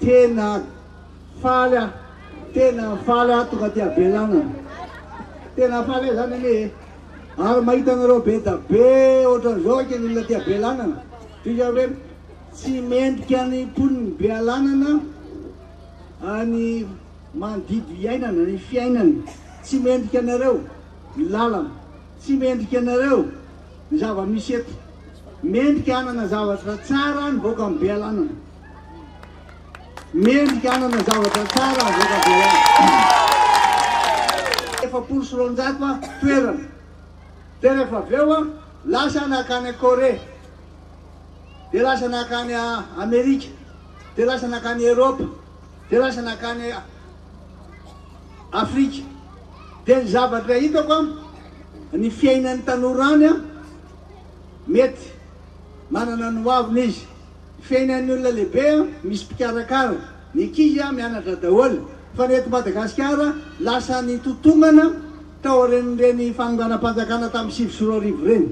Tena faly aho, tena faly aho tonga aty avelana. Tena faly aho zany anie eh. Ary mahita anareo be da be ohatran'izao aky ny olona aty avelana. Tohiza hoe tsy mendrika ny mponin'i Bealanana any manodidy iainana ny fiainany. Tsy mendrika anareo ny lalana, tsy mendrika anareo ny zava-misy eto. Mendrika hanana zavatra tsara ny vahoakan'i Bealanana. Mendrika hanana zavatra tsara avy eto Behoririka. Efapolo sy roanjato a toerana. Dia rehefa avy eo a, lasa nakany Corée. Dia lasa nakany Amerika. Dia lasa nakany Eropa. Dia lasa nakany Afrika. Dia ny zavatra hitako a, ny fiainan'ny tanora any a, mety manana ny hoaviny izy. Feno an'ny olona lehibe misy mpikarakara, ny ankizy mianatra daholo fa ny eto Madagasikara lasa nitotombana tao aorian'ireny fanonganam-panjakana tamin'ny sivy sy roa arivo ireny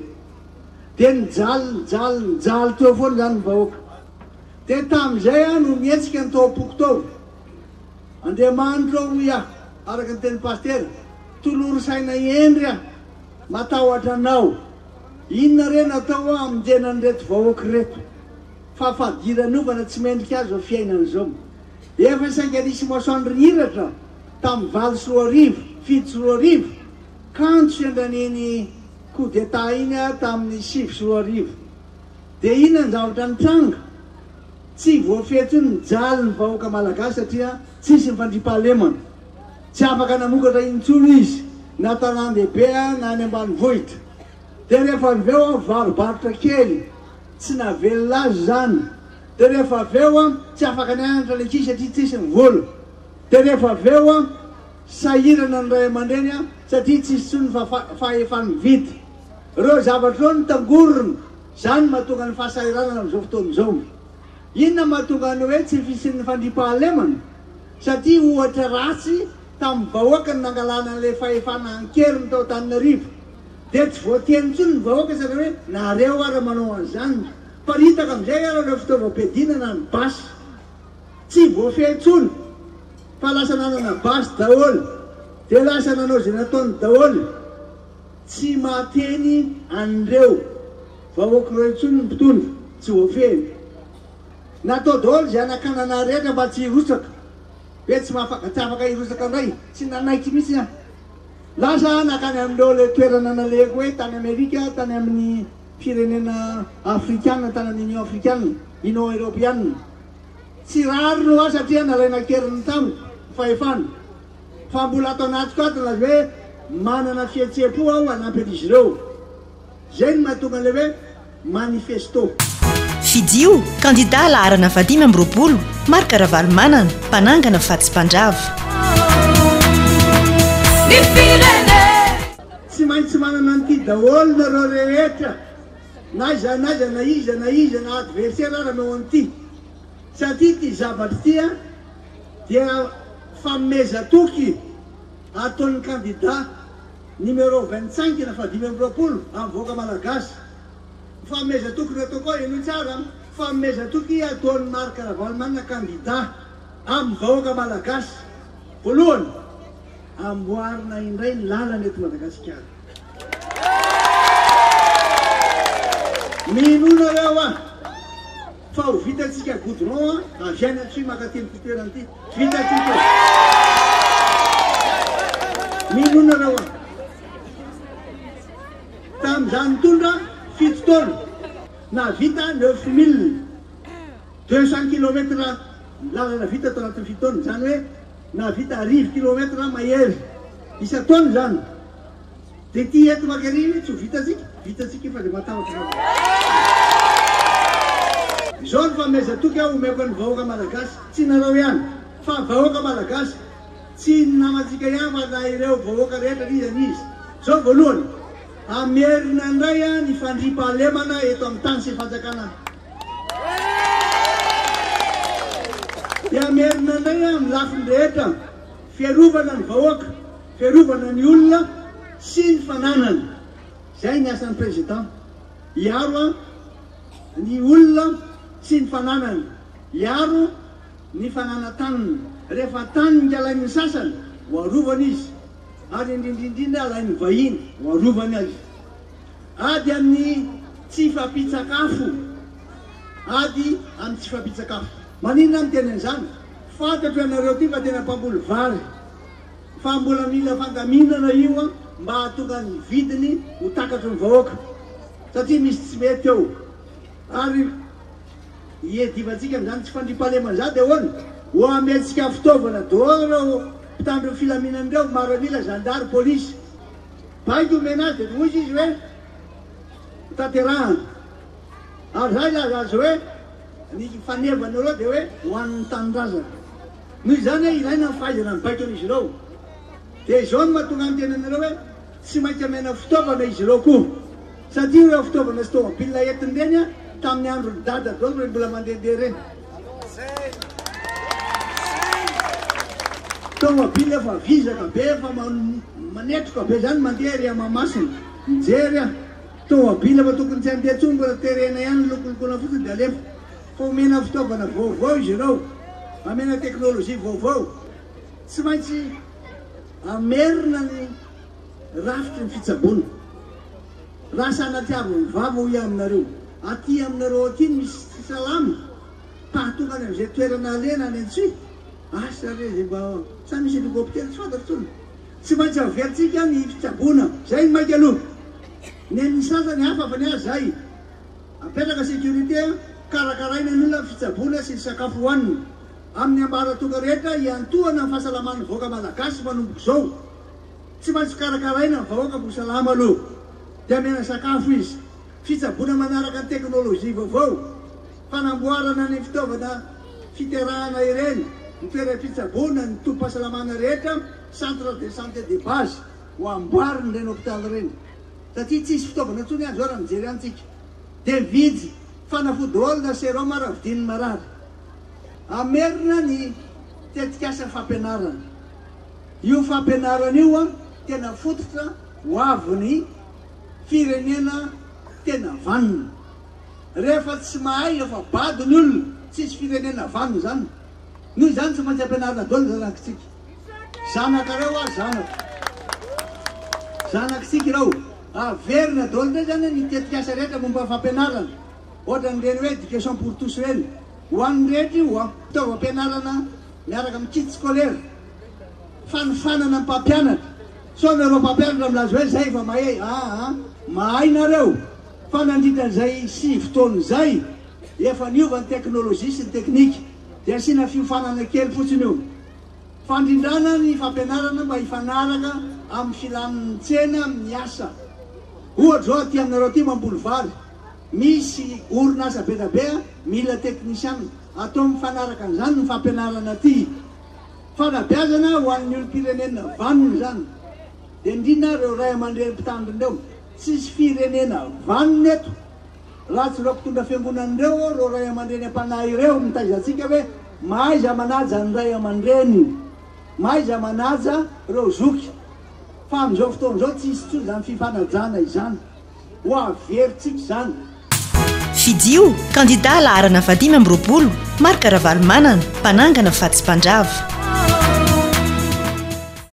dia nijaly nijaly nijaly teo foana izany ny vahoaka dia tamin'izay aho no nihetsika ny tao am-poko tao Andriamanitra hoy aho araka ny tenin'i Pasitera tolory saina hendry aho Matahotra anao. Inona re no atao hoa hamonjena an'ireto vahoaka ireto. Fa fadiranovana tsy mendrika azy zao fiainana zao. Efa sainga nisy masoandro nihiratra tamin'ny valo sy roa arivo, fito sy roa arivo, kanjo sendran'iny coup d'état iny aho tamin'ny sivy sy roa arivo. Dia inona ny zavatra nitranga? Tsy voafehy intsony ny jalin'ny vahoaka malagasy satria tsisy ny fandriampahalemana. Tsy afaka namokatra intsony izy na tanàn-dehibe na any ambanivohitra. Dia rehefa avy eo varo-barotra kely, tsy navelona azy izany. Dia rehefa avy eo tsy afaka nianatra ny ankizy satria tsisy ny vola. Dia rehefa avy eo sahirana ny ray aman-dreny satria tsisy intsony ny fahefa-mividy. Ireo zavatra ireo no tangorona, izany no mahatonga ny fahasahiranana amin'izao fotoana izao. Inona no mahatonga ny hoe tsy fisian'ny fandriampahalemana? Satria ohatra ratsy tamin'ny vahoaka no nangalana an'ilay fahefana an-keriny tao Antananarivo. Dia tsy voateny intsony ny vahoaka sady hoe nareo ara manao an'izany. Paritaka amin'izay ara ireo fitaovam-piadiana na ny basy. Tsy voafehy intsony fa lasa nanana basy daholo dia lasa nanao izay nataony daholo. Tsy mahateny an'ireo vahoaka ireo intsony ny mpitondra, tsy voafehiny. Natao daholo izay hanakanana rehetra mba tsy hirotsaka. Be tsy mahafaka tsy afaka hirotsaka indray, tsy nanaiky mihitsy aho. Lasa aho nankany amin'ireo ilay toerana nalehako hoe tany Amerika, tany amin'ny firenena Afrikana, tany amin'ny Union Afrikana, Union Eropeana. Tsy rariny ho ahy satria nalaina an-keriny tamiko ny fahefana. fa mbola ato anatiko ato ilay hoe manana fihetseham-po aho hanampy an'izy ireo. Izay no mahatonga an'ilay hoe manifesto. Fidio, kandidà laharana fahadimy amby roapolo, Marc Ravalomanana, mpanangana fa tsy mpandrava. Ny firenena. Tsy maintsy manana an'ity daholo nareo rehetra, na aiza na aiza, na iza na iza, na adversera ara-nao an'ity, satria ity zavatra ity a, dia fanomezan-toky ataon'ny kandida numéro vingt cinq na fahadimy amby roapolo amin'ny vahoaka malagasy. Ny fanomezan-toky nataoko ao, henoy tsara an, fanomezan-toky ataon'i Marc Ravalomanana kandida amin'ny vahoaka malagasy. Voalohany, amboarina indray ny lalana eto Madagasikara. Mino nareo aho. Fa ho vitantsika goudron an, avy any atsimo makaty amin'ity toerana ity. Vitantsika e. Mino nareo an. Tam za nitondra fito taona, nahavita neuf mille deux cent kilomètres lalana vita tao anatin'ny fito taona. Izany hoe nahavita arivo kilomètres mahery isan-taona izany. Dia ity eto Magaria io tsy ho vitantsika, vitantsika io fa dia matahotra ianao daholo. Izao no fanomezan-toky aho omeko an'ny vahoaka Malagasy, tsy nareo ihany, fa vahoaka Malagasy, tsy ny namantsika ihany fa na ireo vahoaka rehetra n'iza n'iza. Izao voalohany, hamerina indray ny fandriampahalemana eto amin'ny tany sy fanjakana, dia hamerina indray amin'ny lafiny rehetra, fiarovana ny vahoaka, Fiarovana ny olona sy ny fananany, izay ny asan'ny Président, hiaro an ny olona sy ny fananany, hiaro ny fananataniny, rehefa tany ny alain'ny sasany ho arovana izy, ary indrindrindrindra alain'ny vahiny ho arovany azy. Ady amin'ny tsy fampitsakafo, ady amin'ny tsy fampitsakafo. Maninona miteny an'izany? Fantatro ianareo ity fa tena mpamboly vary. fa mbola mila fandaminana io an mba hahatonga ny vidiny ho takatry ny vahoaka satria misy tsy mety ao ary iadivantsika amin'izany tsy fandriampahalemana izany dia ahoana ho amentsika fitaovana dehors ireo mpitandro ny filaminana ireo maramila zandary polisy baiko omena azy dia hoy izy hoe tanterahana ary zay laza azy hoe Ny fanevan'ireo dia hoe ho an'ny tanindrazana. Noho izany hoe ilaina ny fahaizana ny baikon'izy ireo, dia izao no mahatonga ny tenan'ireo hoe tsy maintsy amena fitaovana izy ireo koa. Satria ireo fitaovana sy tomobilina entiny ireny tamin'ny andron'ny dada daholo ireny mbola mandehandeha ireny. Tomobilina efa vizaka be, efa manetroka be izany mandeha ery Mahamasina. Mijery aho. Tômôbila fa tokony tsy handeha tsony mbola terena ihany lokolokoana fotsiny dia alefa fa omena fitaovana vaovao izy ireo amena teknolojia vaovao tsy maintsy amerina ny rafitry ny fitsaboana raha sanatiavy ny vava hoy aminareo aty aminareo aty ny misy tsy salama pahatonga any amin'izay toerana alena any an-tsy asa re izay mba sa misy helikoptera tsy fantatro tsony Tsy maintsy averintsika ny fitsaboana. Zay ny maika aloha. Nen'ny sasany hafa fa ny ahy zay. Apetraka sécurité, karakaraina ny olona ny fitsaboana sy ny sakafo hohanina. Amin'ny ambaratonga rehetra hiantohana ny fahasalaman'ny vahoaka malagasy manomboka izao. Tsy maintsy karakaraina ny vahoaka mbo salama aloha. Dia amena sakafo izy. Fitsaboana manaraka ny teknolojia vaovao. Fanamboarana ny fitaovana fiterahana ireny, ny toeram-pitsaboana, ny tobim-pahasalamana rehetra. Centre de santé de base ho amboarina ireny hôpital ireny satria tsisy fitaovana intsony aza eo raha mijery antsika dia vijy fanafody daholo na serum ara vidian'ny marary. Hamerina ny tetikasa fampianarana. Io fampianarana io an tena fototra ho avin'ny firenena tena vanona. Rehefa tsy mahay efa bado ny olona, tsisy firenena vanona izany. Noho izany tsy maintsy ampianarina daholo ny zanakitsika. Zanakareo aho zanako. Zanakitsika ireo. Averina daholo indray izany ny tetikasa rehetra momba ny fampianarana, ohatran'ireny hoe education pour tous ireny. Ho an'ny rehetra io an. Fitaovam-pianarana miaraka amin'ny kit scolaire, fanofanana ny mpampianatra. Sao nareo mpampianatra milaza hoe izay efa mahay. Aa, mahay nareo fa nandritra an'izay sivy taona izay, efa niova ny teknolojia sy ny teknika. Dia asiana fiofanana kely fotsiny io. Fandrindrana ny fampianarana mba hifanaraka amin'ny filan'ny tsena amin'ny asa. Ohatra izao aty aminareo aty mamboly vary, misy orinasa be dia be mila teknisiana, atao mifanaraka an'izany ny fampianarana aty. Fanabeazana ho an'ny olom-pirenena vanona izany. Dia indrindra ireo ray aman-dreny mpitandrina ireo, tsisy firenena vanona eto. Ratsy ireo mpitondra fiangonana ireo ô, ireo ray aman-dreny am-panahy ireo mitaiza antsika hoe mahaiza manaja ny ray aman-dreny, mahaiza manaja ireo zoky. Fa amin'izao fotoana izao tsy hisy intsony izany fifanajana izany. Ho averintsika izany. Fidio, kandida laharana vahadimy amby roapolo, Marc Ravalomanana, mpanangana fa tsy mpandrava.